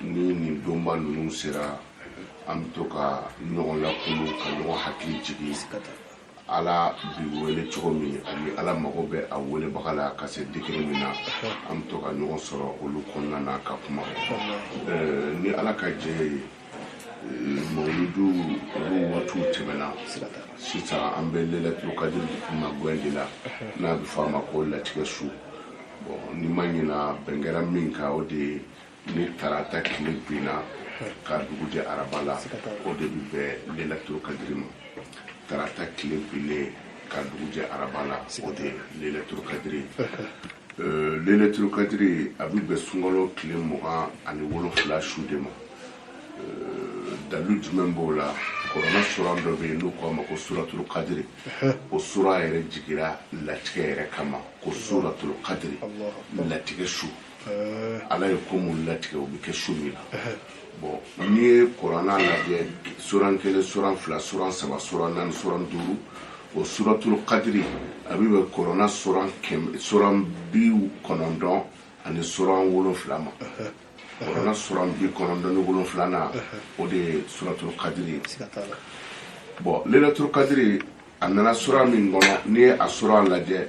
ni nin donba ninnu sera an bɛ to ka ɲɔgɔn lakunu ka ɲɔgɔn hakili jigin ala bi wele cogo min ani ala mago bɛ a welebaga la ka se degré min na an bɛ to ka ɲɔgɔn sɔrɔ olu kɔnɔna na ka kuma ni ala ka jɛ ye mawuludu olu waatiw tɛmɛna sisan an bɛ lelatul kadiri magɛn de la n'a bɛ fɔ a ma ko latigɛ su bon ni n ma ɲina bɛn kɛra min kan o de ye ni tarata tile binna ka dugu jɛ araba la o de bɛ bɛn lelatul kadiri ma tarata tile binnen ka dugu jɛ araba la o de lelatul kadiri euh, lelatul kadiri a bɛ bɛn sunkalo tile mugan ani wolonfila su de ma euh, dalu jumɛn b'o la kurana sura dɔ bɛ yen n'u k'a ma ko suratulu kadiri o sura yɛrɛ jigira latigɛ yɛrɛ kama ko suratulu kadiri latigɛ su ala ye ko minnu latigɛ o bɛ kɛ su min na bon n'i ye kurana lajɛ suran kelen suran fila suran saba suran naani suran duuru o suratul kadiri a bɛ bɛn kurana suran kɛmɛ suran bi kɔnɔntɔn ani suran wolonfila ma kurana suran bi kɔnɔntɔn ni wolonfila na o de ye suratul kadiri ye bon lelatul kadiri a nana suran min kɔnɔ n'i ye a suran lajɛ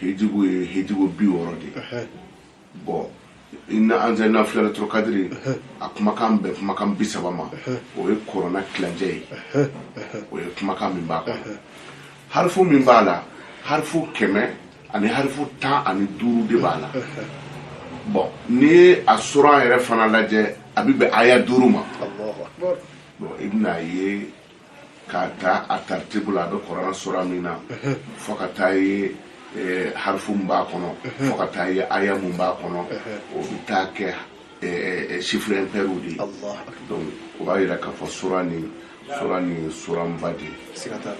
hijibu ye hijibu bi wɔɔrɔ de ye bon inna anzalna fi lelatul kadiri a kumakan bɛn kumakan bi saba ma o ye kurana tilancɛ ye o ye kumakan min b'a kɔnɔ harifu min b'a la harifu kɛmɛ ani harifu tan ani duuru de b'a la bon n'i ye a sura yɛrɛ fana lajɛ a bɛ bɛn aya duuru ma bon i bɛna ye k'a ta a taritibu la a bɛ kurana sura min na fo ka taa ye eh, harifu min b'a kɔnɔ fo ka taa ye aya min b'a kɔnɔ o bɛ taa kɛ eh, eh, chiffre impair de ye allah akbar donc o b'a jira k'a fɔ sura nin sura nin suranba de ye siga t'a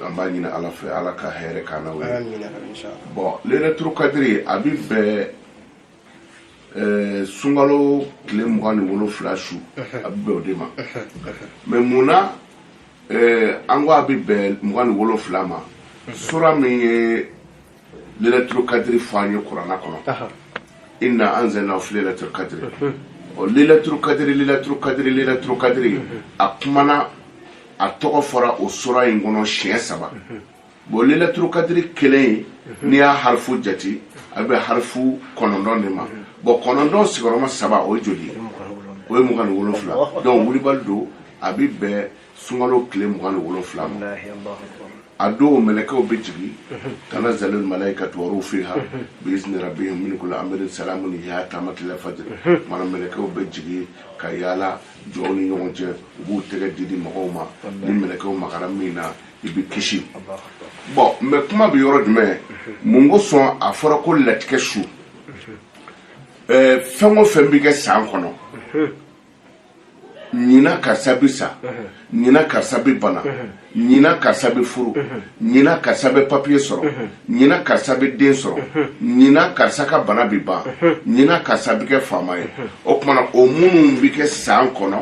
la an b'a ɲini ala fɛ ala ka hɛrɛ k'an n'aw ye amina inshallah bon lailatul kadiri a bɛ bɛn eh, sunkalo tile mugan ni wolonfila su a bɛ bɛn o de ma mais mun na eh, an ko a bɛ bɛn mugan ni wolonfila ma sura min ye lelatul kadiri fɔ an ye kurana kɔnɔ inna anzalna fi lelatul kadiri ɔ lelatul kadiri lelatul kadiri lelatul kadiri a kumana a tɔgɔ fɔra o sura in kɔnɔ siɲɛ saba bon lelatul kadiri kelen mhm. n'i y'a harifu jate a bɛ harifu kɔnɔntɔn de ma mhm. bon kɔnɔntɔn sigiyɔrɔma saba o ye joli ye o ye mugan ni wolonfila donc wulibali don a bɛ bɛn sunkalo tile mugan ni wolonfila ma a don mɛlɛkɛw bɛ jigin mhm. tanazzalul malayikatu waruhu fiha biizni rabbihim min kulli amrin salamun hiya hatta matla'il fajr mana mɛlɛkɛw bɛ jigin ka yaala jɔnw ni ɲɔgɔn cɛ u b'u tɛgɛ di di mɔgɔw ma ni mɛlɛkɛw magara min na i bɛ kisi bon mɛ kuma bɛ yɔrɔ jumɛn mun kosɔn a fɔra ko latigɛ su fɛn o fɛn bɛ kɛ san kɔnɔ ɲina karisa bɛ sa ɲina karisa bɛ bana ɲina karisa bɛ furu ɲina karisa bɛ papiye sɔrɔ ɲina karisa bɛ den sɔrɔ ɲina karisa ka bana bɛ ban ɲina karisa bɛ kɛ faama ye o tuma na o minnu bɛ kɛ san kɔnɔ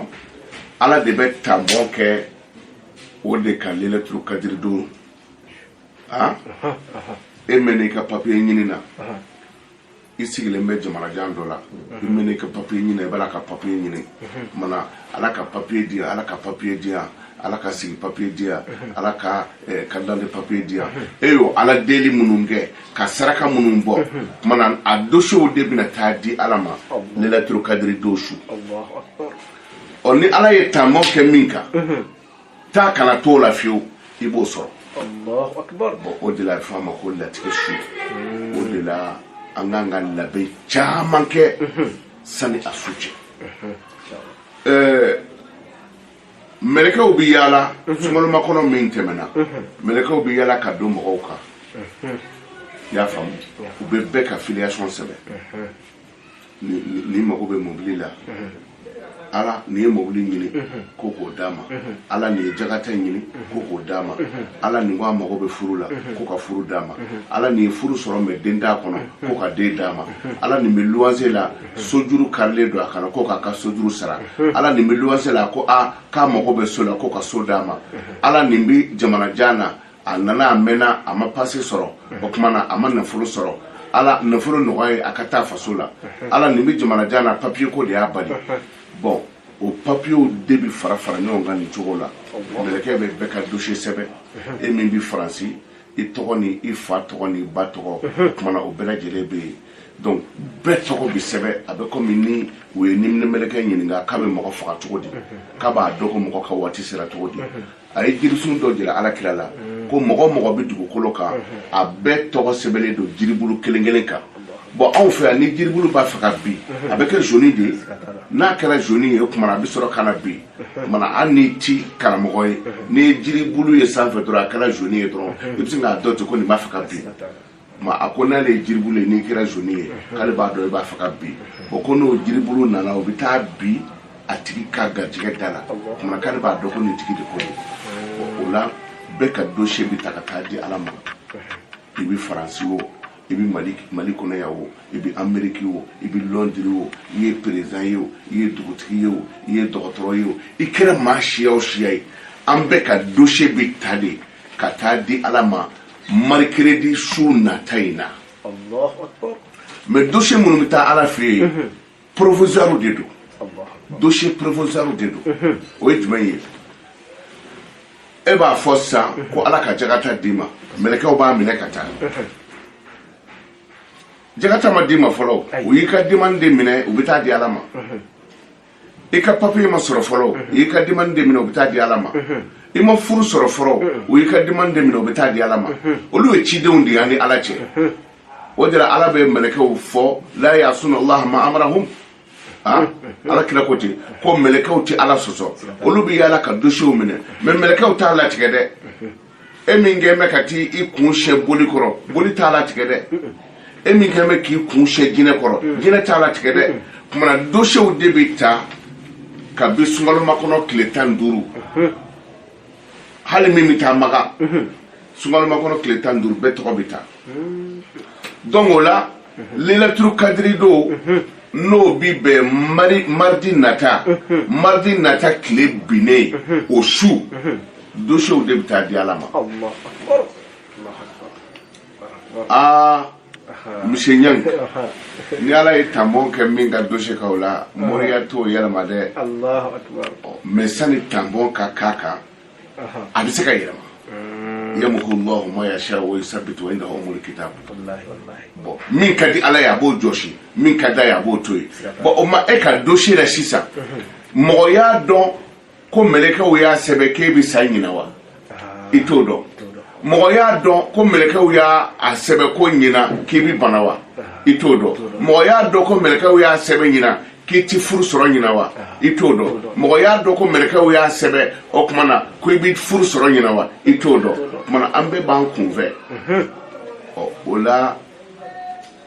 ala de bɛ tanpɔn kɛ o de kan lelatul kadiri don a e mɛnna i ka papiye ɲini na i sigilen bɛ jamanajan dɔ la i mɛnna i ka papiye ɲini i b'a la ka papiye ɲini mana ala ka papiye di ala ka papiye di yan ala ka sigi papiye di yan ala ka eh, ka dande papiye di yan e y'o ala deli minnu kɛ ka saraka minnu bɔ mana a dosiyew de bɛna taa di ala ma lelatul kadiri don su ɔ ni ala ye tanpɔn kɛ min kan mhm. taa ka na t'o la fiyewu i b'o sɔrɔ bon o de la a bɛ fɔ a ma ko latigɛ su mm. o de la an kan ka labɛn caman kɛ mhm. sani a su cɛ mhm. eh, mɛlɛkɛw bɛ yaala sunkalomakɔnɔ min tɛmɛna mɛlɛkɛw bɛ yaala ka don mɔgɔw kan i y'a faamu u bɛ bɛɛ ka filiyasɔn sɛbɛn nin mago bɛ mobili la ala nin ye mobili ɲini ko k'o d'a ma ala nin ye jagata ɲini ko k'o d'a ma ala nin ko a mago bɛ furu la ko ka furu d'a ma ala nin ye furu sɔrɔ mɛ den t'a kɔnɔ ko ka den d'a ma ala nin bɛ luwanse la sojuru karilen don a kan na ko k'a ka sojuru sara ala nin bɛ luwanse la ko a k'a mago bɛ so la ko ka so d'a ma ala nin bɛ jamanajan na a nana a mɛnna a ma pase sɔrɔ o tuma na a ma nafolo sɔrɔ ala nafolo nɔgɔy'a ye a ka taa faso la ala nin bɛ jamanajan na papiye ko de y'a bali bon o papiyew de bɛ fara fara ɲɔgɔn kan nin cogo la mɛlɛkɛ bɛ bɛɛ ka dosiye sɛbɛn e min bɛ faransi i tɔgɔ ni i fa tɔgɔ ni i ba tɔgɔ o tuma na o bɛɛ lajɛlen bɛ yen donc bɛɛ tɔgɔ bɛ sɛbɛn a bɛ komi ni u ye niminɛ mɛlɛkɛ ɲininka k'a bɛ mɔgɔ faga cogo di k'a b'a dɔn ko mɔgɔ ka waati sera cogo di a ye jirisun dɔ jira ala kira la mm. ko mɔgɔ o mɔgɔ bɛ dugukolo kan mm-hmm. a bɛɛ tɔgɔ sɛbɛnlen don jiribulu kelen kelen kan bon anw fɛ yan ni jiribulu b'a fɛ ka bin mm-hmm. a bɛ kɛ zoni de ye n'a kɛra zoni ye kumana a bɛ sɔrɔ ka na bin mm-hmm. kumana hali n'i ti karamɔgɔ ye n'i ye jiribulu ye sanfɛ dɔrɔn a kɛra zoni ye dɔrɔn i bɛ se k'a dɔn ten ko nin b'a fɛ ka bin ma a ko n'ale ye jiribulu ye n'i kɛra zoni ye k'ale b'a dɔn i b'a fɛ ka bin o ko n'o jiribulu nana o bɛ taa bin a tigi ka garijɛgɛ da la kumana k'ale b'a dɔn ko nin tigi de ko don o la bɛɛ ka dosiye bɛ ta ka taa di ala ma i bɛ faransi o i bɛ mali mali kɔnɔ yan o i bɛ ameriki o i bɛ lɔndiri o i ye perezan ye o i ye dugutigi ye o i ye dɔgɔtɔrɔ ye o i kɛra maa siya o siya ye an bɛɛ ka dosiye bɛ ta de ka taa di ala ma marikeredi su nata in na mais dosiye minnu bɛ taa ala fɛ yen mhm. provisoire de don dosiye provisoire de don mhm. o ye jumɛn ye e b'a fɔ sisan mhm. ko ala ka jagata d'i ma mɛlɛkɛw b'a minɛ ka taa jagata ma d'i ma fɔlɔ u y'i ka demande de minɛ u bɛ taa di ala ma i ka papiye ma sɔrɔ fɔlɔ u y'i ka demande de minɛ u bɛ taa di ala ma i ma furu sɔrɔ fɔlɔ u y'i ka demande de minɛ u bɛ taa di ala ma olu ye cidenw de y'an ni ala cɛ o de la ala bɛ mɛlɛkɛw fɔ la yasuna allaha ma amarahum ah, ala kira ko ten ko mɛlɛkɛw tɛ ala sɔsɔ olu bɛ yaala ka dosiyew minɛ mais mɛlɛkɛw t'a latigɛ dɛ e min kɛ bɛ ka taa i kun sɛ boli kɔrɔ boli t'a latigɛ dɛ e min kɛ bɛ k'i kun sɛ jinɛ kɔrɔ mm. jinɛ t'a latigɛ dɛ kumana dosiyew de bɛ ta kabi sunkalomakɔnɔ tile tan ni duuru mm-hmm. hali min bɛ taa maka mm-hmm. sunkalomakɔnɔ tile tan ni duuru bɛɛ tɔgɔ bɛ ta donc o la lailatul kadiri don n'o bi bɛn mari maridi nata maridi nata tile binnen o su dosiyew de bɛ taa di ala ma aa monsieur Niang ni ala ye tanbɔn kɛ min ka dosiye kan o la moriya t'o yɛlɛma dɛ mais sani tanbɔn ka k'a kan a bɛ se ka yɛlɛma yamuhu llahu ma yasha wa yusabitu wa indahu umul kitab bon min ka di ala ye a b'o jɔsi min ka d'a ye a b'o to yen bon o ma e ka dosiye la sisan mɔgɔ y'a dɔn ko mɛlɛkɛw y'a sɛbɛ k'e bɛ sa ɲina wa i t'o dɔn mɔgɔ y'a dɔn ko mɛlɛkɛw y'a sɛbɛ ko ɲina k'i bɛ bana wa i t'o dɔn mɔgɔ y'a dɔn ko mɛlɛkɛw y'a sɛbɛ ɲina k'i ti furu sɔrɔ ɲina wa i t'o dɔn mɔgɔ y'a dɔn ko mɛlɛkɛw y'a sɛbɛn o tuma na ko i bɛ furu sɔrɔ ɲina wa i t'o dɔn o tuma na an bɛɛ b'an kunfɛ ɔ o la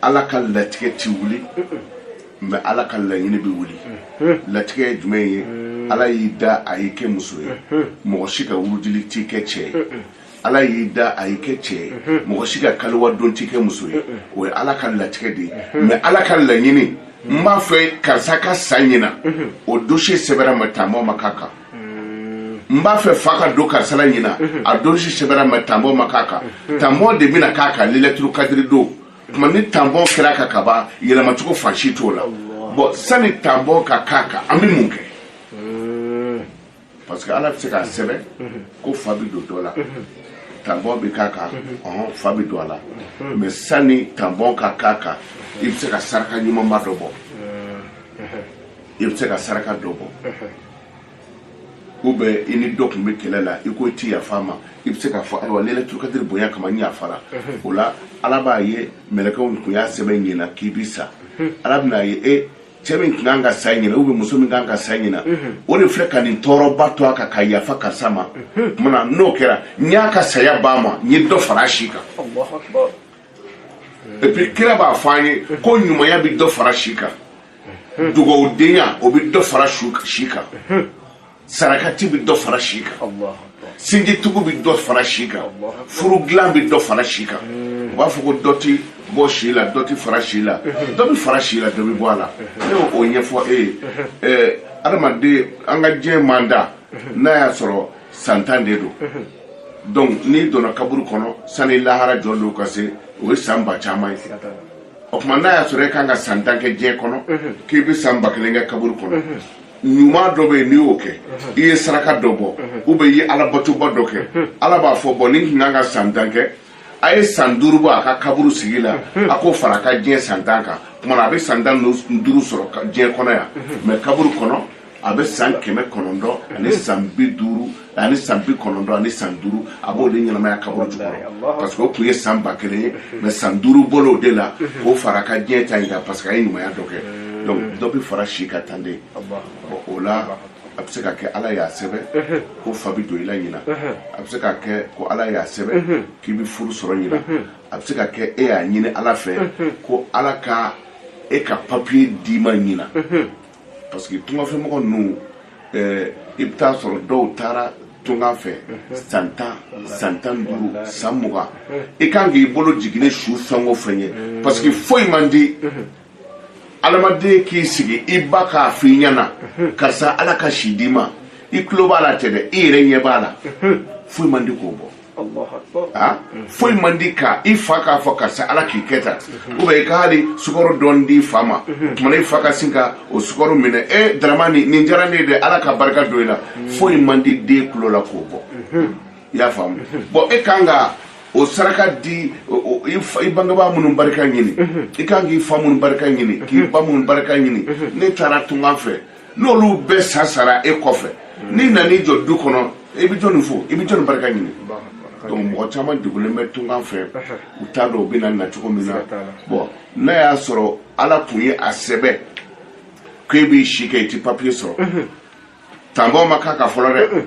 ala ka latigɛ ti wuli mais ala ka laɲini bɛ wuli latigɛ ye jumɛn ye ala y'i da a y'i kɛ muso ye mɔgɔ si ka wurudili t'i kɛ cɛ ye ala y'i da a y'i kɛ cɛ ye mɔgɔ si ka kaliwa don t'i kɛ muso ye o ye ala ka latigɛ de ye mais ala ka laɲini n b'a fɛ karisa ka sa ɲina o dossier sɛbɛra mais tanbɔn ma k'a kan n b'a fɛ fa ka don karisa la ɲina a dossier sɛbɛra mais tanbɔn ma k'a kan tanbɔn de bɛna k'a kan lailatul kadiri don tuma ni tanbɔn kɛra a kan kaban yɛlɛmacogo fan si t'o la bon sani tanbɔn ka k'a kan an bɛ mun kɛ parce que ala bɛ se k'a sɛbɛn ko fa bɛ don dɔ la tanbɔn bɛ k'a kan ɔhɔn fa bɛ don a la mais sani tanbɔn ka k'a kan i bɛ se ka saraka ɲumanba dɔ bɔ i bɛ se ka saraka dɔ bɔ ou bien i ni dɔ tun bɛ kɛlɛ la i ko i ti yafa a ma i bɛ se k'a fɔ ayiwa lailatul kadiri bonya kama n yafara o la ala b'a ye mɛlɛkɛw tun y'a sɛbɛn ɲina k'i bi sa ala bɛna ye e cɛ min tun kan ka sa ɲina ou bien muso min kan ka sa ɲina o de filɛ ka nin tɔɔrɔba to a kan ka yafa karisa ma tuma na n'o kɛra n y'a ka saya b'a ma n ye dɔ fara a si kan allahu akbar et puis kira b'a fɔ an ye ko ɲumanya bɛ dɔ fara si kan dugawudenya o bɛ dɔ fara si kan sarakati bɛ dɔ fara si kan sinjitugu bɛ dɔ fara si kan furu dilan bɛ dɔ fara si kan u b'a fɔ ko dɔ tɛ bɔ si la dɔ tɛ fara si la dɔ bɛ fara si la dɔ bɛ bɔ a la ne y'o o ɲɛfɔ e ye ɛɛ adamaden an ka diɲɛ mandat n'a y'a sɔrɔ san tan de don donc n'i donna kaburu kɔnɔ sani lahara jɔ don ka se o ye san ba caman ye o tuma n'a y'a sɔrɔ e kan ka san tan kɛ diɲɛ kɔnɔ k'i bɛ san ba kelen kɛ kaburu kɔnɔ ɲuman dɔ bɛ yen n'i y'o kɛ i ye saraka dɔ bɔ ou bien i ye alabatoba dɔ kɛ ala b'a fɔ bon nin tun kan ka san tan kɛ a ye san duuru bɔ a ka kaburu sigi la a k'o fara a ka diɲɛ san tan kan tuma na a bɛ san tan ni duuru sɔrɔ diɲɛ kɔnɔ yan mais kaburu kɔnɔ a bɛ san kɛmɛ kɔnɔntɔn ani san bi duuru ani san bi kɔnɔntɔn ani san duuru a b'o de ɲɛnamaya kaburu jukɔrɔ parce que o tun ye san ba kelen ye mais san duuru bɔl'o de la k'o fara a ka diɲɛ ta in kan parce que a ye ɲumanya dɔ kɛ donc dɔ bɛ fara si kan tan de bon o la a bɛ se ka kɛ ala y'a sɛbɛn ko fa bɛ don i la ɲina a bɛ se ka kɛ ko ala y'a sɛbɛn k'i bɛ furu sɔrɔ ɲina a bɛ se ka kɛ e y'a ɲini ala fɛ ko ala ka e ka papiye d'i ma ɲina parce que tungafɛmɔgɔ ninnu eh, i bɛ t'a sɔrɔ dɔw taara tunga fɛ san tan san tan duuru san mugan i kan k'i bolo jiginnen su fɛn o fɛn ye parce que foyi man di adamaden k'i sigi i ba k'a f'i ɲɛna karisa ala ka si d'i ma i tulo b'a la tɛ dɛ i yɛrɛ ɲɛ b'a la foyi man di k'o bɔ allahu akbar foyi man di ka i fa k'a fɔ karisa ala k'i kɛ tan mhm. ou bien i ka hali sukaro dɔɔni d'i fa ma mhm. maintenant i fa ka sin ka o sukaro minɛ eh, daramani nin diyara ne ye dɛ ala ka barika don i la mhm. foyi man di den tulo la k'o bɔ i y'a faamu bɔn e kan ka o saraka di i bangebaa minnu barika ɲini i kan k'i fa minnu barika ɲini k'i ba minnu barika ɲini ne taara tunga fɛ n'olu bɛɛ sa sara e kɔfɛ hmm. n'i nana i jɔ du kɔnɔ i bɛ jɔni fo i bɛ jɔni barika ɲini donc mɔgɔ caman degulen bɛ tunga fɛ u t'a dɔn u bɛna na cogo min na bɔn n'a y'a sɔrɔ ala tun ye a sɛbɛn k'e b'i si kɛ i ti papiye sɔrɔ tampon ma k'a kan fɔlɔ dɛ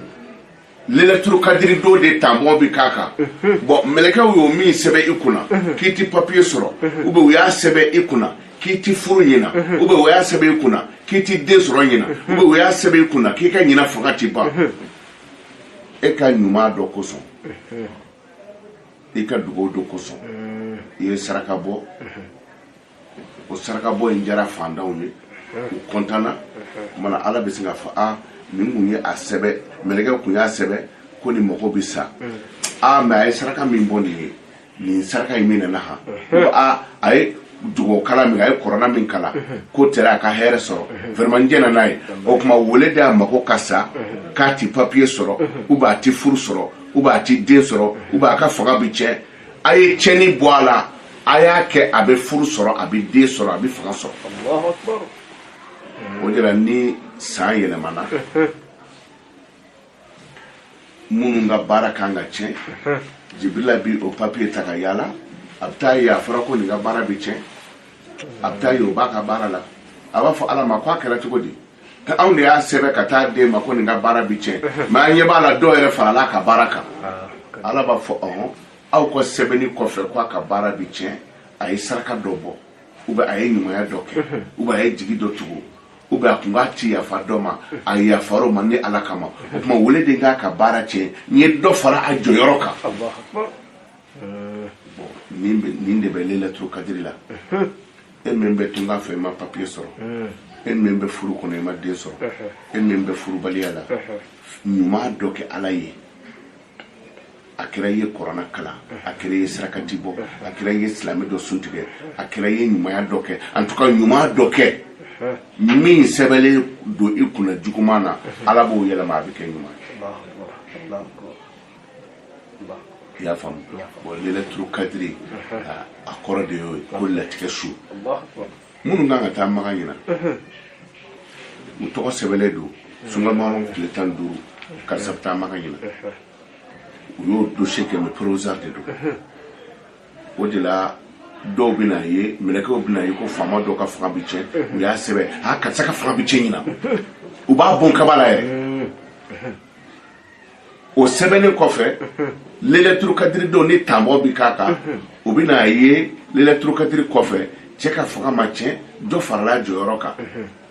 lelaturu kadiri don de tampon bi k'a kan mhm. bɔn mɛlɛkɛw y'o min sɛbɛ i kunna mhm. k'i ti papiye sɔrɔ mhm. ou bien u y'a sɛbɛ i kunna k'i ti furu ɲina ou bien u y'a sɛbɛ i kunna k'i ti den sɔrɔ ɲina ou bien u y'a sɛbɛ i kunna k'i ka ɲina fanga ti ban e ka ɲuman dɔ kosɔn i ka dugawu dɔ kosɔn i ye saraka bɔ o sarakabɔ in diyara faantanw ye u kɔntanna maintenant ala bɛ sin k'a fɔ a min kun ye a sɛbɛ mɛlɛkɛ kun y'a sɛbɛ ko nin mɔgɔ bɛ sa ah mais a ye saraka min bɔ nin ye nin saraka in minɛna ha ko a a ye dugawu kalan min a ye kurana min kalan ko tɛra a ka hɛrɛ sɔrɔ vraiment n jɛnna n'a ye o tuma au lieu de a mako ka sa k'a ti papiye sɔrɔ ou bien a ti furu sɔrɔ ou bien a ti den sɔrɔ ou bien a ka fanga bi tiɲɛ a ye cɛni bɔ a la a y'a kɛ a bɛ furu sɔrɔ a bɛ den sɔrɔ a bɛ fanga sɔrɔ o de la ni san yɛlɛmana minnu ka baara kan ka tiɲɛ jibirila bi o papiye ta ka yaala a bɛ t'a ye a fɔra ko nin ka baara bɛ tiɲɛ a bɛ t'a ye o b'a ka baara la a b'a fɔ ala ma ko a kɛra cogo di anw de y'a sɛbɛn ka t'a d'e ma ko nin ka baara bi tiɲɛ mais an ɲɛ b'a la dɔ yɛrɛ farala a ka baara kan ala b'a fɔ ɔhɔn aw k'o sɛbɛnni kɔfɛ ko a ka baara bi tiɲɛ a ye saraka dɔ bɔ ou bien a ye ɲumanya dɔ kɛ ou bien a ye jigi dɔ tugu ou bien a tun k'a ti yafa dɔ ma a yafara o ma ne ala kama o tuma au lieu de n k'a ka baara tiɲɛ n ye dɔ fara a jɔyɔrɔ kan nin de bɛ lelaturu kadiri la e min bɛ tunga fɛ i ma papiye sɔrɔ mm. e min bɛ furu kɔnɔ i ma den sɔrɔ mm-hmm. e min bɛ furubaliya la mm-hmm. ɲuman dɔ kɛ ala ye a kɛra i ye kurana kalan a kɛra i ye sarakati bɔ a kɛra i ye silamɛ dɔ sun tigɛ a kɛra i ye ɲumanya dɔ kɛ en tout cas ɲuman dɔ kɛ min sɛbɛnlen don i kunna juguman na ala b'o yɛlɛma a bɛ kɛ ɲuman ye i y'a faamu bɔn lailatul kadiri a kɔrɔ de y'o ye ko latigɛ su minnu kan ka taa maka ɲinan u tɔgɔ sɛbɛnlen don sungamaro tile tan duuru karisa bɛ taa maka ɲinan u y'o dosiye kɛ mais provisoire de don o de la dɔw bɛn'a ye mɛlɛkɛw bɛn'a ye ko faama dɔw ka fanga bɛ tiɲɛ u y'a sɛbɛn a karisa ka fanga bɛ tiɲɛ ɲinan u b'a bon kaba la yɛrɛ o sɛbɛnnen kɔfɛ lailatul kadiri don ni tampon bi k'a kan u bɛn'a ye lailatul kadiri kɔfɛ cɛ ka fanga ma tiɲɛ dɔ farala jɔyɔrɔ kan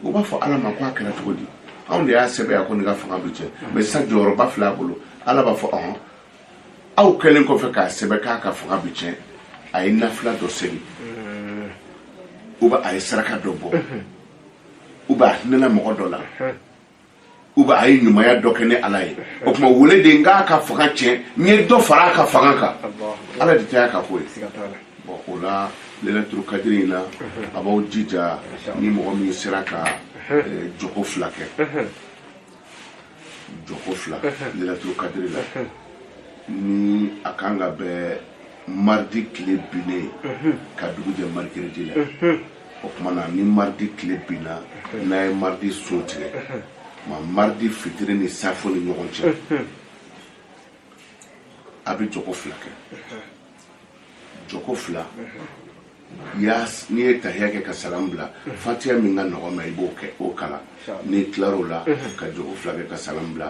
u b'a fɔ ala ma ko a kɛra cogo di anw de y'a sɛbɛn yan ko nin ka fanga bɛ tiɲɛ mais sisan jɔyɔrɔba filɛ a bolo ala b'a fɔ ɔhɔn aw kɛlen kɔfɛ k'a sɛbɛn k'a ka fanga bɛ tiɲɛ a ye nafila dɔ seli ou bien a ye saraka dɔ bɔ ou bien a hinɛna mɔgɔ dɔ la ou bien a ye ɲumanya dɔ kɛ ne ala ye o tuma au lieu de n k'a ka fanga tiɲɛ n ye dɔ fara a ka fanga kan ala de ta y'a ka ko ye bɔn o la lailatul kadiri in na aw b'aw jija ni mɔgɔ min sera ka eh, jɔko fila kɛ jɔko fila lailatul kadiri la ni a kan ka bɛn mardi tile binnen ka dugu jɛ mercredi la o tuma na ni mardi tile binna n'a ye mardi sun tigɛ ma mardi fitiri ni safo ni ɲɔgɔn cɛ a bɛ jɔko fila kɛ jɔko fila yas n'i ye tahiya kɛ ka salam bila fatiya min ka nɔgɔn i ma i b'o kɛ o kalan n'i tilar'o la ka jɔko fila kɛ ka salam bila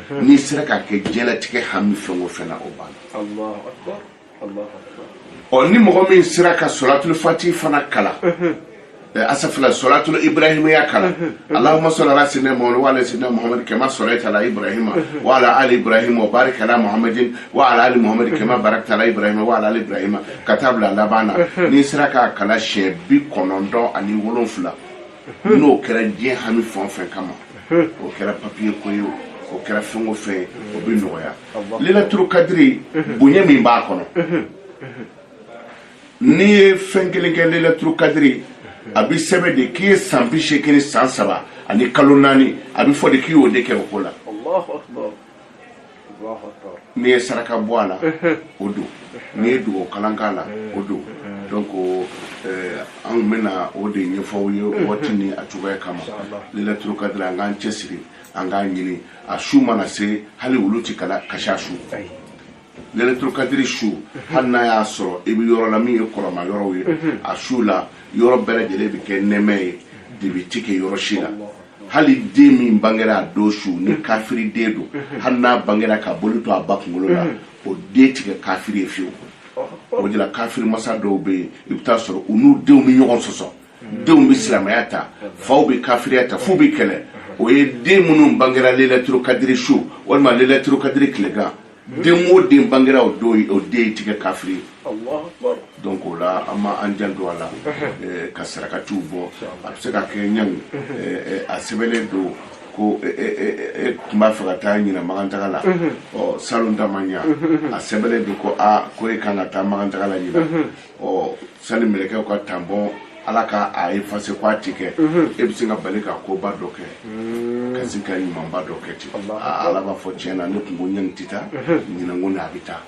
n'i sera k'a kɛ diɲɛlatigɛ hami fɛn o fɛn na o banna ɔ ni mɔgɔ min sera ka salatul fatihi fana kalan astaghfirullah salatul ibrahimiya kalan allahumma salli ala sayyidina muhammad wa ala sayyidina muhammad kama sallaita ala ibrahima wa ala ali ibrahima wa barik ala muhammadin wa ala ali muhammad kama barakta ala ibrahima wa ala ali ibrahima ka taa bila laban na n'i sera k'a kalan siɲɛ bi kɔnɔntɔn ani wolonfila n'o kɛra diɲɛ hami fɛn o fɛn kama o kɛra papiye ko ye o kɛra fɛn o fɛn o bɛ nɔgɔya lailatul kadiri bonya min b'a kɔnɔ n'i ye fɛn kelen kɛ lailatul kadiri a bɛ sɛbɛn de k'i ye san bi seegin ni san saba ani kalo naani a bɛ fɔ de k'i y'o de kɛ o ko la n'i ye saraka bɔ a la o don n'i ye dugawu kalan k'a la o don donc eh, an bɛna o de ɲɛfɔ aw ye a waati ni a cogoya kama lelatul kadiri an k'an cɛsiri an k'a ɲini a su mana se hali wulu ti kala kasi a su lelatul kadiri su hali n'a y'a sɔrɔ i bɛ yɔrɔ la min ye kɔrɔma yɔrɔw ye a su la yɔrɔ bɛɛ lajɛlen bɛ kɛ nɛmɛ ye dibi ti kɛ yɔrɔ si la hali den min bangera a don su ni mhm. kafiri den don mhm. hali n'a bangera ka boli to a ba kunkolo la mhm. o den ti kɛ kafiri ye fiyewu oh, oh. o de la kafiri masa dɔw bɛ yen i bɛ taa sɔrɔ u n'u denw bɛ ɲɔgɔn sɔsɔ denw bɛ silamɛya ta faw bɛ kafiriya ta f'u bɛ kɛlɛ o ye den minnu bangera lelaturukadiri su walima lelaturukadiri tilegan den o den bangera o don o den ti kɛ kafiri ye Allahu akbar donc o la an ma an janto a la eh, ka sarakatiw bɔ a bɛ se ka kɛ ɲani eh, eh, a sɛbɛnnen don ko e eh, eh, eh, tun b'a fɛ ka taa ɲinan makantaga la ɔ salon ta ma ɲa a sɛbɛnnen don ko a ko e kan ka taa makantaga la ɲinan ɔ sani mɛlɛkɛw k'a tanpɔn ala ka a efase ko a ti kɛ e bɛ se ka bali ka koba dɔ kɛ ka se ka ɲumanba dɔ kɛ ten Aa, ala b'a fɔ tiɲɛ na ne tun ko ɲin tɛ taa ɲinan kɔni a bɛ taa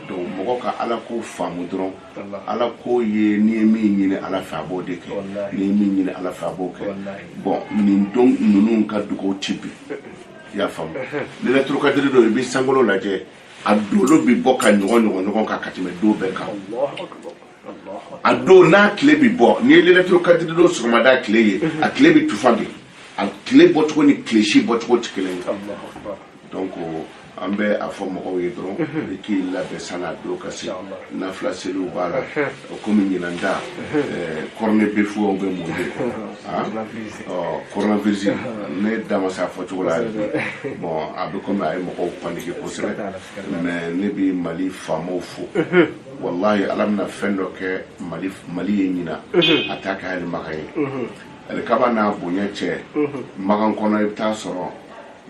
donc mɔgɔ ka ala ko faamu dɔrɔn ala ko ye n'i ye min ɲini ala fɛ a b'o de kɛ Wallahi. n'i ye min ɲini ala fɛ a b'o kɛ Wallahi. bon nin don ninnu ka dugawu ti bin i y'a faamu lɛlɛturukadiri don i bɛ sankolo lajɛ a dolo bɛ bɔ ka ɲɔgɔn ɲɔgɔn ɲɔgɔn kan ka tɛmɛ don bɛɛ kan a don n'a tile bɛ bɔ n'i ye lelatul kadiri don sɔgɔmada tile ye a tile bɛ tufa de a tile bɔcogo ni tile si bɔcogo tɛ kelen ye donc an bɛ a fɔ mɔgɔw ye dɔrɔn i k'i labɛn san'a don ka se nafila seliw b'a la o komi ɲinan ta kɔrɔne bɛ fɔ aw bɛ mun de kɔrɔnavirisi ne da ma se a fɔ cogo la bɔn a bɛ komi a ye mɔgɔw panike kosɛbɛ mɛ ne bɛ mali faamaw fo Wallahi ala bɛna fɛn dɔ kɛ mali ye ɲinan a ta kɛ hali makan ye alikaba n'a bonya cɛ makan kɔnɔ i bɛ taa sɔrɔ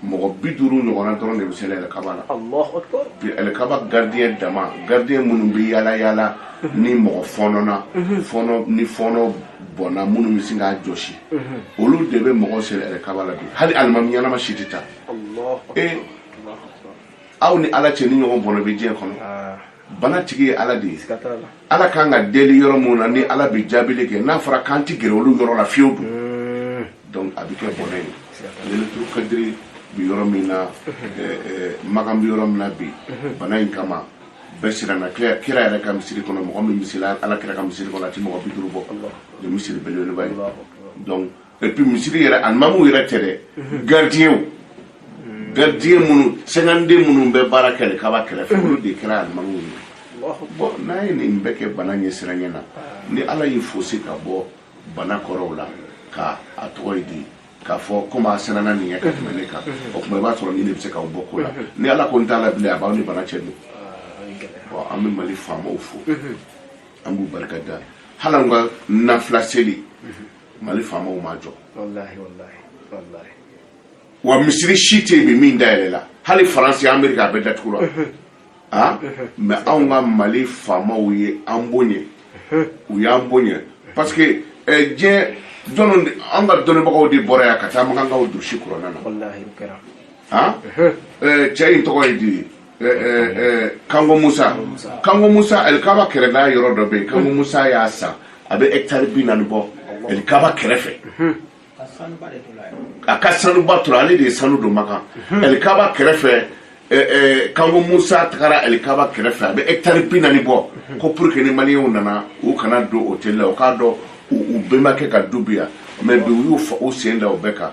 mɔgɔ bi duuru ɲɔgɔnna dɔrɔn de bɛ seli alikaba la Allahu akbar alikaba gardiyɛn dama gardiyɛn minnu bɛ yaala yaala mhm. ni mɔgɔ fɔɔnɔna mhm. fɔɔnɔ ni fɔɔnɔ bɔnna minnu bɛ sin k'a jɔsi mhm. olu de bɛ mɔgɔ seli alikaba la bi hali alimami ɲɛnama si tɛ taa ee aw ni ala cɛ nin ɲɔgɔn bɔnɛ bɛ diɲɛ kɔnɔ ah. bana tigi ye ala de ye ala kan ka deli yɔrɔ minnu na ni ala bɛ jaabili kɛ n'a fɔra k'an tɛ gɛrɛ olu yɔrɔ la fiyewu dun hmm. donc a bɛ kɛ bɔnɛ ye lelatul kadiri bɛ yɔrɔ min na eh, eh, makan bɛ yɔrɔ min na bi hmm. bana in kama bɛɛ siranna kira yɛrɛ ka misiri kɔnɔ mɔgɔ min bɛ seli ala kira ka misiri kɔnɔ a tɛ mɔgɔ bi duuru bɔ ni misiri belebeleba ye donc et puis misiri yɛrɛ alimamu yɛrɛ tɛ dɛ gardien gardien minnu cinquante-deux minnu bɛ baara kɛ alikaba kɛrɛfɛ olu de kɛra alimamu ye bɔn n'a ye nin bɛɛ kɛ bana ɲɛ siranya na ni ala y'i fosi ka bɔ bana kɔrɔw la ka a tɔgɔ ye di k'a fɔ komi a sɛnɛna nin ye ka tɛmɛ ne kan o tuma i b'a sɔrɔ ne de bɛ se k'aw bɔ ko la ni ala ko n t'a la bilen a b'aw ni bana cɛ don bɔn an bɛ mali faamaw fo an b'u barika da hali an ka nafila seli mali faamaw m'a jɔ wa misiri si tɛ yen bi min dayɛlɛla hali faransi amerika a bɛɛ datugura mais anw ka mali faamaw ye an boɲɛ u y'an boɲɛ parce que diɲɛ jɔnw an ka dɔnnibagaw de bɔra yan ka taa makankaw durusi kurana na cɛ in tɔgɔ ye di ye eh, eh, eh, kango musa kango musa alikaba kɛrɛda yɔrɔ dɔ bɛ yen kango musa y'a san a bɛ hɛkitari bi naani bɔ alikaba kɛrɛfɛ a ka sanuba tora ale de ye sanu don makan alikaba kɛrɛfɛ kango musa tagara alikaba kɛrɛfɛ a bɛ hɛkitari bi naani bɔ ko pour que ni maliyɛnw nana u kana don hotɛli la u k'a dɔn u bɛnbakɛ ka du bi yan mais bi u y'u sen da o bɛɛ kan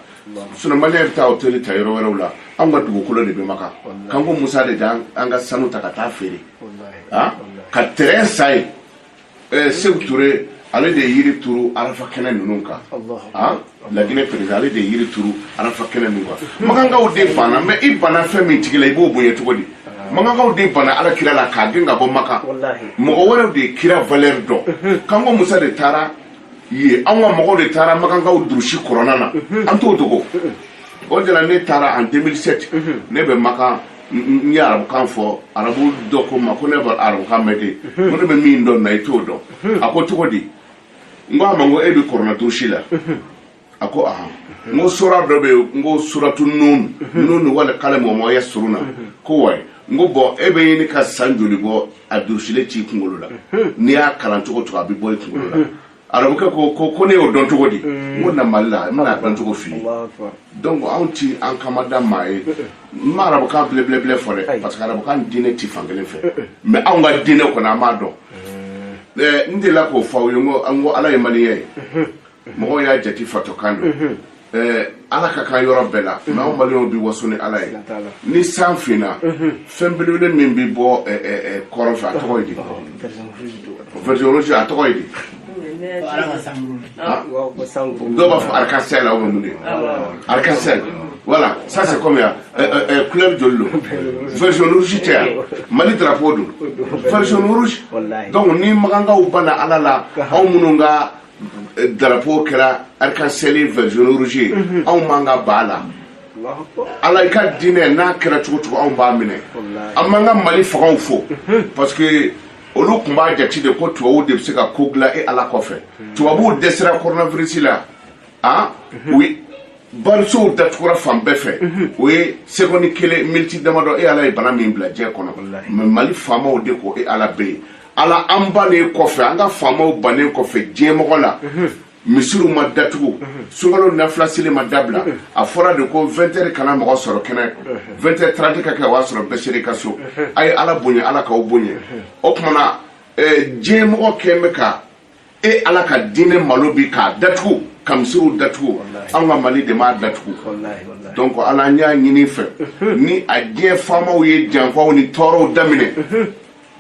sinon maliyɛn bɛ taa hôtel ta yɔrɔ wɛrɛw la anw ka dugukolo de bɛ maka kango musa de da an ka sanu ta ka taa feere ah? ka terrain san yen eh, seku ture ale de ye yiri turu arafa kɛnɛ ninnu kan ah? laginɛ président ale de ye yiri turu arafa kɛnɛ ninnu kan makankaw de banna mais i banna fɛn min tigi la i b'o bonya cogo di makankaw de banna ala kira la k'a gɛn ka bɔ maka mɔgɔ wɛrɛw de ye kira valeur dɔn mhm. kango musa de taara ye an ka mɔgɔw de taara makankaw durusi kurana na an t'o dogo o de la ne taara en 2007 ne bɛ makan n ye arabukan fɔ arabu dɔ ko n ma ko ne bɛ arabukan mɛn dɛ ko ne bɛ min dɔn na i t'o dɔn a ko cogo di n ko a ma n ko e bɛ kurana durusi la a ko ahan n ko sura dɔ bɛ yen n ko suratu nun nun wal kalami wa ma yasturuna a ko ouais n ko bɔn e bɛ ɲini ka san joli bɔ a durusilen t'i kunkolo la n'i y'a kalan cogo o cogo a bɛ bɔ i kunkolo la arabukɛ ko ko ko ne y'o dɔn cogo di n ko na mali la n bɛn'a dɔn cogo f'i ye donc anw ti an kama da maa ye n ma arabukan belebelebele fɔ dɛ parce que arabukan diinɛ ti fan kelen fɛ mais anw ka diinɛ kɔni an b'a dɔn n delila k'o fɔ aw ye n ko n ko ala ye maliyɛn ye mɔgɔw y'a jati fatɔkan don mhm. eh, ala ka kan yɔrɔ bɛɛ la n'aw mhm. maliyɛnw bi waso ni ala ye ni san finna mhm. fɛn belebele min bi bɔ eh, eh, kɔrɔn fɛ a tɔgɔ ye di vert jaune rouge a tɔgɔ ye di ah. dɔw b'a fɔ arc-en-ciel la ou bien mun de ah, arc-en-ciel voilà ça c'est comme ya couleur joli don vert jaune rouge tɛ wa mali drapeau don vert jaune rouge donc ni makankaw banna ala la anw minnu ka eh, drapeau kɛra arc-en-ciel vert jaune rouge mhm. anw mago b'a la ala i ka diinɛ n'a kɛra cogo cogo anw b'a minɛ an b'an ka mali fangaw fo mhm. parce que olu tun b'a jate de ko tubabuw de bɛ se ka ko dilan e ala kɔfɛ mhm. tubabuw dɛsɛra koronavirisi la an u barisow datugura fan bɛɛ fɛ mhm. o ye sekɔndi kelen miniti damadɔ e ala ye bana min bila diɲɛ kɔnɔ mais mali faamaw de ko e ala bɛ yen ala an bannen kɔfɛ an ka faamaw bannen kɔfɛ diɲɛmɔgɔ la mhm. misiriw ma datugu mhm. sunkalo nafila seli ma dabila mhm. a fɔra de ko 20 heures kana mɔgɔ sɔrɔ kɛnɛ 20 heures 30 ka kɛ o y'a sɔrɔ bɛɛ ser'i ka so a ye ala bonya ala k'aw bonya o tuma na eh, diɲɛmɔgɔ kun bɛ ka e ala ka diinɛ malo bi k'a datugu ka misiriw datugu an ka mali de m'a datugu donc ala n y'a ɲini i fɛ ni a diɲɛ faamaw ye janfaw ni tɔɔrɔw daminɛ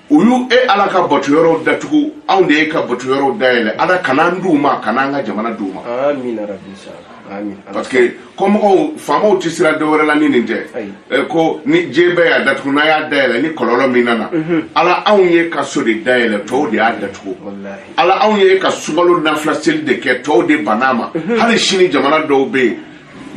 u y'u e ala ka bato yɔrɔw datugu anw de y'i ka bato yɔrɔw dayɛlɛ ala kan'an d'u ma kan'an ka jamana d'u ma parce que kɔmɔgɔw faamaw tɛ sira dɔ wɛrɛ la ni nin tɛ eh, ko ni diɲɛ bɛɛ y'a datugu n'a y'a dayɛlɛ ni kɔlɔlɔ min nana mhm. ala anw y'i ka so de dayɛlɛ tɔw de y'a datugu ala anw y'i ka sunkalo nafila seli de kɛ tɔw de bann'a ma mhm. hali sini jamana dɔw bɛ yen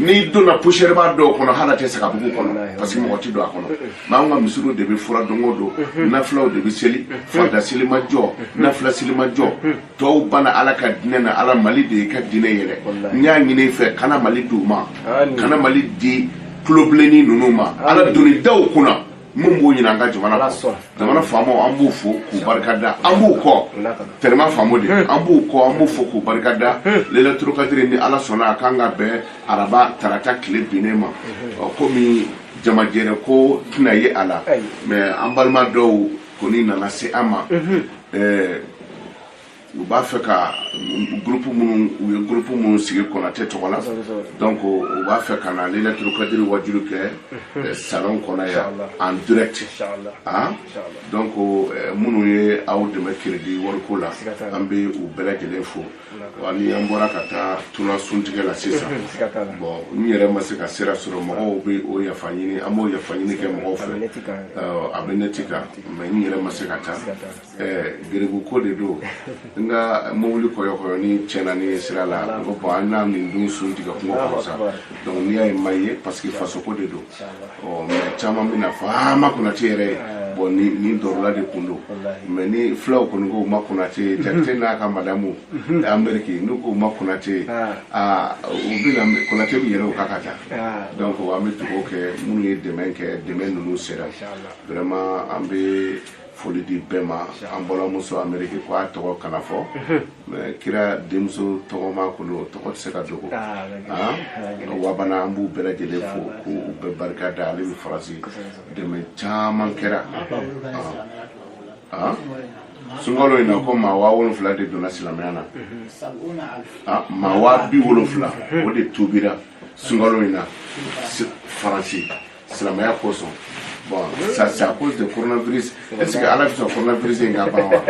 n'i donna poussière b'a dɔw kɔnɔ hali a tɛ se ka bugu kɔnɔ parce que mɔgɔ tɛ don a kɔnɔ mais anw ka misiriw de bɛ furan don o don nafilaw de bɛ seli farida seli ma jɔ nafila seli ma jɔ tɔw banna ala ka diinɛ na ala mali de y'i ka diinɛ yɛlɛ n y'a ɲini i fɛ kana mali d'u ma kana mali di tulobilenni ninnu ma ala doni da u kunna min b'u ɲinan an ka jamana kɔ jamana faamaw an b'u fo k'u barika da an b'u kɔ tɛrɛma faamu de hmm. an b'u kɔ an b'u fo k'u barika da hmm. Lailatul Kadiri ni ala sɔnna a kan ka bɛn araba tarata tile binnen ma hmm. komi jamajɛrɛ ko tɛna ye a la mais an balima dɔw kɔni nana se an ma u b'a fɛ ka groupe minnu u ye groupe minnu sigi Konate tɔgɔ la donc u b'a fɛ ka na Lailatul Kadiri wajulu kɛ salon kɔnɔ yan en direct an donc minnu ye aw dɛmɛ crédit wariko la an bɛ u bɛɛ lajɛlen fo wa ni an bɔra ka taa tuna suntigɛ la sisan bon n yɛrɛ ma se ka sira sɔrɔ mɔgɔw bɛ o yafa ɲini an b'o yafa ɲini kɛ mɔgɔw fɛ a bɛ neti kan mais n yɛrɛ ma se ka taa garibu ko de don n ka mobili kɔyɔkɔyɔni tiɲɛna ni sira la ko bon an n'a nin dun suntigɛ kungo kɔrɔ sa donc n'i y'a ye n ma ye parce que fasoko de don ɔ mais caman bɛn'a fɔ aa ma konate yɛrɛ ye bon ni ni dɔrɔla de kun don mais ni fulaw kɔni ko ma konate ye jakite n'a ka madamu ameriki n'u ko ma konate ye aa u bɛna konate bɛ yɛlɛ u kan ka taa donc an bɛ dugawu kɛ minnu ye dɛmɛ kɛ dɛmɛ ninnu sera vraiment an bɛ foli di bɛɛ ma an balimamuso ameriki ko a tɔgɔ kana fɔ mais kira denmuso tɔgɔma kɔni o tɔgɔ tɛ se ka dogo wabana an b'u bɛɛ lajɛlen fo ko u bɛɛ barika da ale bɛ faransi dɛmɛ caman kɛra sunkalo in na ko maa waa wolonfila de donna silamɛya na maa waa bi wolonfila o de tubira sunkalo in na faransi silamɛya kosɔn bon ça c'est à cause de coronavirus est ce que ala bɛ sɔn coronavirus in ka ban wa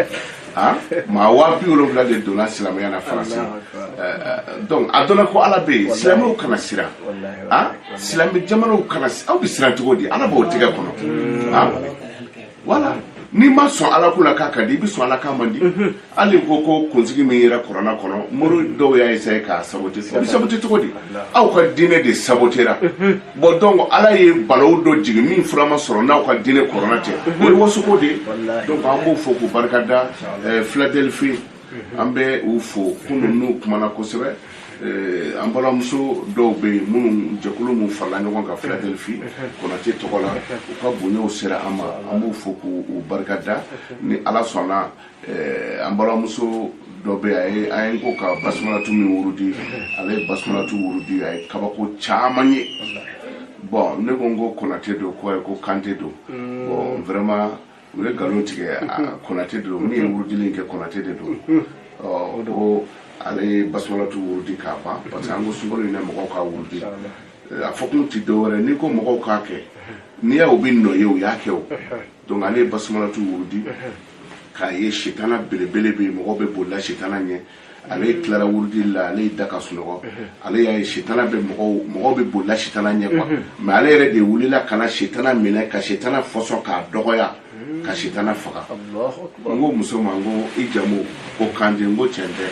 ah maa waa bi wolonfila de donna silamɛya na faransi donc a dɔnna ko ala bɛ yen silamɛw kana siran ah silamɛ jamanaw kana aw bɛ siran cogo di ala b'o tigɛ kɔnɔ ah voilà n'i ma sɔn ala ko la k'a ka di i bɛ sɔn ala k'a man di mhm. hali ko ko kunsigi min yera kuranɛ kɔnɔ mori mhm. dɔw y'a essayé k'a sabote i bɛ sabote cogo di aw ka diinɛ de sabotera mhm. bon donc ala ye balawu dɔ jigin min fura ma sɔrɔ n'aw ka diinɛ kuranɛ tɛ o ye wasoko de ye donc an b'u fo k'u barika da eh, philadelphie an bɛ u fo kunun u kumana kosɛbɛ eh, an balimamuso dɔw bɛ yen minnu jɛkulu minnu farala ɲɔgɔn kan Philadelphie Konate tɔgɔ la u ka bonyaw sera an ma an b'u fo k'u barika da ni Ala sɔnna eh, an balimamuso dɔ bɛ yen an ye ko ka basumalatu min wurudi ale ye basumalatu wurudi a ye kabako caman ye bon ne ko n ko Konate don ko ayi ko Kante don bon vraiment u ye nkalon tigɛ konate de don min ye wurudili kɛ konate de don ko ale ye basumalatu wurudi k'a ban parce que an ko sunkalo in na mɔgɔw ka wurudi a fɔkun tɛ dɔwɛrɛ n'i ko mɔgɔw k'a kɛ n'i y'a u bɛ nɔ ye u y'a kɛ o donc ale ye basumalatu wurudi k'a ye sitana belebele bɛ yen mɔgɔw bɛ bolila sitana ɲɛ ale tilara wurudi la ale y'i da ka sunɔgɔ ale y'a ye sitana bɛ mɔgɔw mɔgɔw bɛ bolila sitana ɲɛ quoi mais ale yɛrɛ de wulila ka na sitana minɛ ka sitana fɔsɔn k'a dɔgɔya ka sitana faga n ko muso ma n ko i jamu ko kante n ko cɛn tɛ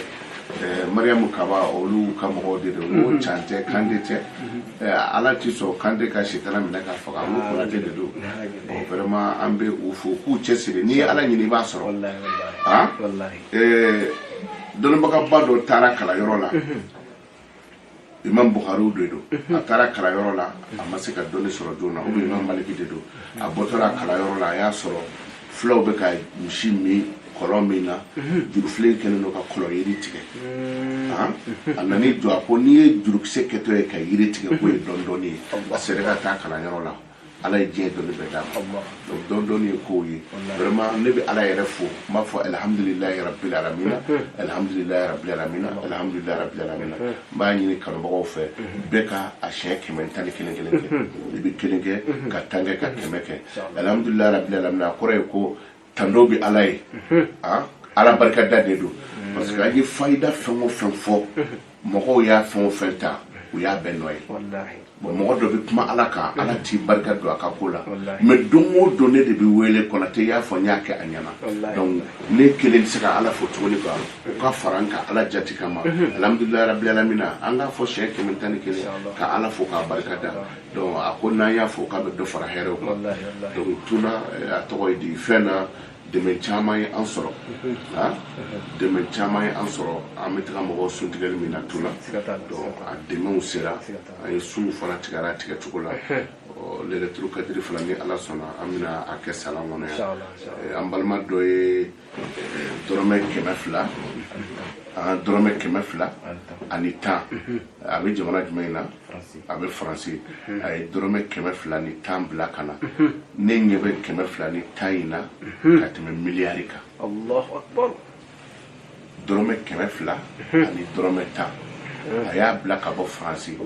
eh, mariyamu kaba olu ka mɔgɔw de don n ko can tɛ kante tɛ Eh, ala ti sɔn kante ka sitana minɛ k'a faga n ko konate de don Bon, vraiment an bɛ u fo k'u cɛsiri n'i ye ala ɲini i b'a sɔrɔ wallahi wallahi Ah? wallahi ɛɛ dɔnnibagaba dɔ taara kalanyɔrɔ la imam buhari de don a taara kalanyɔrɔ la a ma se ka dɔnni sɔrɔ joona o bɛ imam maliki de don a bɔtɔra kalanyɔrɔ la a y'a sɔrɔ fulaw bɛ ka misi min kɔlɔn min na jurufilen kɛlen don ka kɔlɔn yiri tigɛ a nan'i jɔ a ko n'i ye jurukisɛ kɛtɔ ye ka yiri tigɛ k'o ye dɔɔnin dɔɔnin ye a seginna ka taa kalanyɔrɔ la ala ye diɲɛ dɔnni bɛɛ d'a ma donc dɔɔnin dɔɔnin ye ko ye vraiment ne bɛ ala yɛrɛ fo n b'a fɔ alhamdulilayi rabbil alamina alhamdulilayi rabbil alamina alhamdulilayi rabbil alamina n b'a ɲini kanubagaw fɛ bɛɛ ka a siɲɛ kɛmɛ ni tan ni kelen kelen kɛ i bɛ kelen kɛ ka tan kɛ ka kɛmɛ kɛ alhamdulilayi rabbil alamina a kɔrɔ ye ko tando bɛ ala ye ah, ala barikada de don parce que an ye fayida fɛn o fɛn fɔ mɔgɔw y'a fɛn o fɛn ta u y'a bɛɛ nɔ ye bon mɔgɔ dɔ bɛ kuma ala kan ala tɛ barika don a ka ko la mais don o don ne de bɛ wele konate y'a fɔ n y'a kɛ a ɲɛna donc ne kelen tɛ se ka ala fo tuguni quoi u ka fara n kan ala jati kama alhamdulilayi rabil alamina an k'a fɔ siɲɛ kɛmɛ tan ni kelen ka ala fo k'a barika da donc a ko n'an y'a fo k'a bɛ dɔ fara hɛrɛw kan donc tuna eh, a tɔgɔ ye di fɛn na dɛmɛ caman ye an sɔrɔ ah, dɛmɛ caman ye an sɔrɔ an bɛ taga mɔgɔw suntigɛli min na tuna donc a dɛmɛw sera an ye sunw fana tigɛra a tigɛ cogo la lelatul kadiri fana ni ala sɔnna an bɛna a kɛ salon kɔnɔ yan eh, an balima dɔ ye dɔrɔmɛ kɛmɛ fila an dɔrɔmɛ kɛmɛ fila ani tan a bɛ jamana jumɛn in na a bɛ faransi a ye dɔrɔmɛ kɛmɛ fila ni tan bila ka na ne ɲɛ bɛ kɛmɛ fila ni tan in na ka tɛmɛ miliyari kan dɔrɔmɛ kɛmɛ fila ani dɔrɔmɛ tan a y'a bila ka bɔ faransi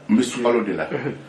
n bɛ sunkalo de la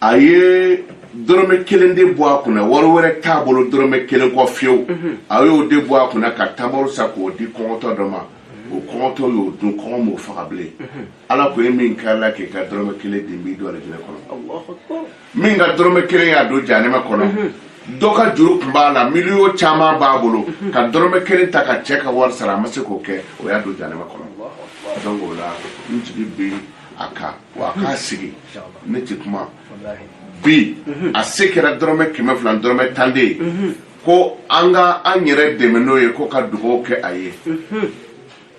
a ye dɔrɔmɛ kelen de bɔ a kunna wari wɛrɛ t'a bolo dɔrɔmɛ kelen kɔ fiyewu mhm. a y'o de bɔ a kunna ka tamaro sa k'o di kɔngɔtɔ dɔ ma mhm. o kɔngɔtɔ y'o dun kɔngɔ m'o faga bilen mhm. ala ko e min karila k'i ka dɔrɔmɛ kelen di n b'i don alijinɛ kɔnɔ min ka dɔrɔmɛ kelen y'a don jahanama kɔnɔ dɔ ka juru tun b'a la miliyɔn caman b'a bolo ka dɔrɔmɛ kelen ta ka cɛ ka wari sara a ma se k'o kɛ o y'a don jahanama kɔnɔ donc o la n jigi bɛ a kan wa a k'a sigi ne tɛ kuma bi a se kɛra dɔrɔmɛ kɛmɛ fila dɔrɔmɛ tan de ye ko an ka an yɛrɛ dɛmɛ n'o ye ko ka dugawu kɛ a ye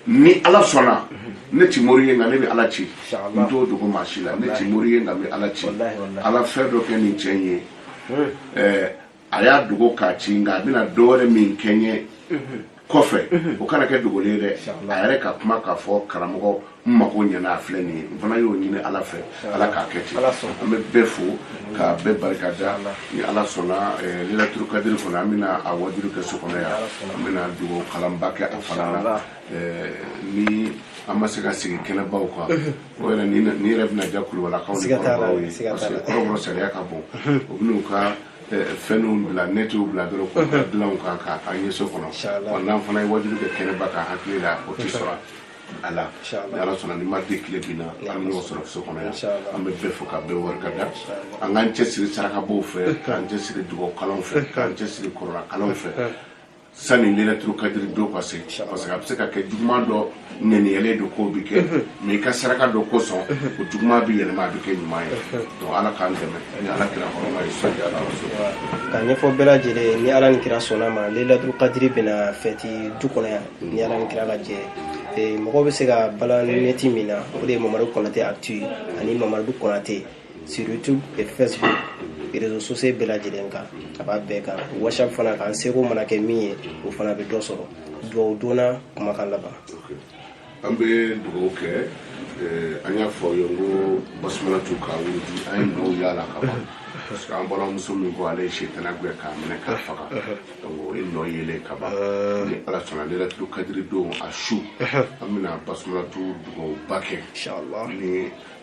ni ala sɔnna ne tɛ mori ye nka ne bɛ ala ci n t'o dogo maa si la ne tɛ mori ye nka n bɛ ala ci ala fɛn dɔ kɛ nin cɛ in ye a y'a dogo k'a ci nka a bɛna dɔwɛrɛ min kɛ n ye kɔfɛ o kana kɛ dogolen ye dɛ a yɛrɛ ka kuma k'a fɔ karamɔgɔ n mago ɲɛna a filɛ nin ye n fana y'o ɲini ala fɛ ala k'a kɛ ten an bɛ bɛɛ fo ka bɛɛ barika da ni ala sɔnna eh, lelatul kadiri kɔnɔ an bɛna a wajuli kɛ so kɔnɔ yan an bɛna dugawu kalanba kɛ a fana na ni an ma se ka sigi kɛnɛbaw kan o yɛrɛ ni yɛrɛ bɛna diya kulubalakaw ni kɔrɔbɔrɔw ye parce que kɔrɔbɔrɔ salaya ka bon u bɛn'u ka fɛnw bila netiw bila dɔrɔn k'u da dilanw kan ka an ye so kɔnɔ wa n'an fana ye wajuli kɛ kɛnɛba kan hakili la o tɛ sɔrɔ a la ni ala sɔnna ni mardi tile binna an bɛ ɲɔgɔn sɔrɔ so kɔnɔ yan an bɛ bɛɛ fo ka bɛɛ barika da an k'an cɛsiri sarakabaw fɛ k'an cɛsiri dugawu kalanw fɛ k'an cɛsiri kuranɛ kalanw fɛ sani lailatul kadiri don ka se parce que a bɛ se ka kɛ juguman dɔ ŋaniyalen don k'o bɛ kɛ mais i ka saraka dɔ kosɔn o juguman bɛ yɛlɛma a bɛ kɛ ɲuman ye donc ala k'an dɛmɛ ni ala kira kɔrɔma ye sɔli ala rasulillah. ka ɲɛfɔ bɛɛ lajɛlen ye ni ala ni kira sɔnn'a ma lailatul kadiri bɛna fɛti du kɔnɔ yan ni ala ni kira ka jɛ ye mɔgɔw bɛ se ka balan nɛti min na o de ye mamadu kɔnate actu ye ani mamadu kɔnate sur youtube et facebook réseaux sociaux bɛɛ lajɛlen kan a b'a bɛɛ kan whatsapp fana kan seko mana kɛ min ye o fana bɛ dɔ sɔrɔ dugawu donna kumakan laban an bɛ dugawu kɛ eh, an y'a fɔ ye ko basumalatu ka wurudi an ye nɔ y'a la ka ban parce que an balimamuso min ko ale ye setana gɛn k'a minɛ k'a faga donc o ye nɔ yelen ka ban ni ala sɔnna lailatul kadiri don a su an bɛna basumalatu dugawuba kɛ ni